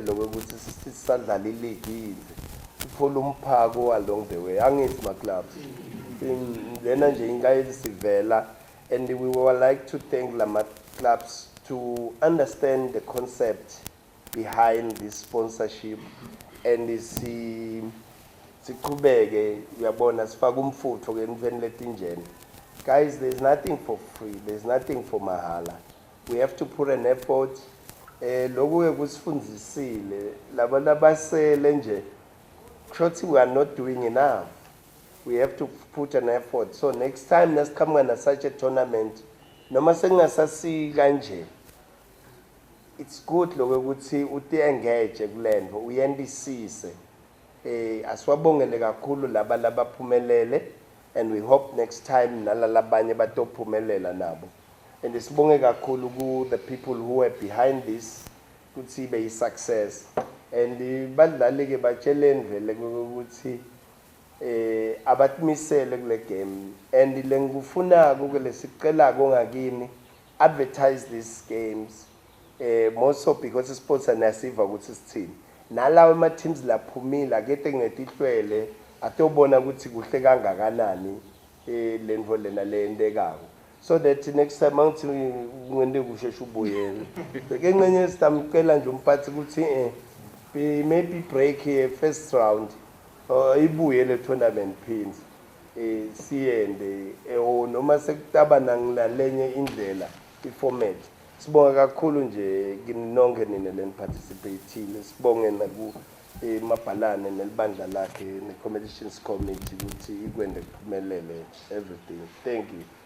ngiyakutshela ukuthi sisadlala iligi yize sithola umphako along the way angithi maclubs lena nje inkayizi sivela and we would like to thank lama clubs to understand the concept behind this sponsorship and si siqhubeke uyabona sifaka umfutho ke emveni letinjena guys there's nothing for free there's nothing for mahala We have to put an effort eh lokhu ke kusifundisile laba labasele nje kushothi we are not doing enough we have to put an effort so next time nasiqhamuka na such a tournament noma sekungasasi kanje it's good lokho ukuthi uthi engage kulento uyendisise eh asiwabongele kakhulu laba labaphumelele and we hope next time nalalabanye batophumelela nabo and sibonge kakhulu ku the people who were behind this ukuthi ibe yi success and badlali ke batsheleni vele ukuthi eh abatmisele kule game and lengikufunako ke lesicelako ngakini advertise these games eh more so because sports anasiva ukuthi sithini nalawo ama teams laphumile akete ngetihlwele atobona ukuthi kuhle kangakanani eh lento lena leyentekayo so that next time angithi ngende kusheshe ubuyele ke ncenye sitamcela nje umphathi ukuthi eh maybe break here first round uh, ibuye le tournament pins eh siyende eh oh, noma sekutaba nangilalenye indlela iformat sibonga kakhulu nje kinonke nina leni participate sibonge naku imabhalane nelibandla lakhe ne-competitions committee ukuthi ikwende kuphumelele everything thank you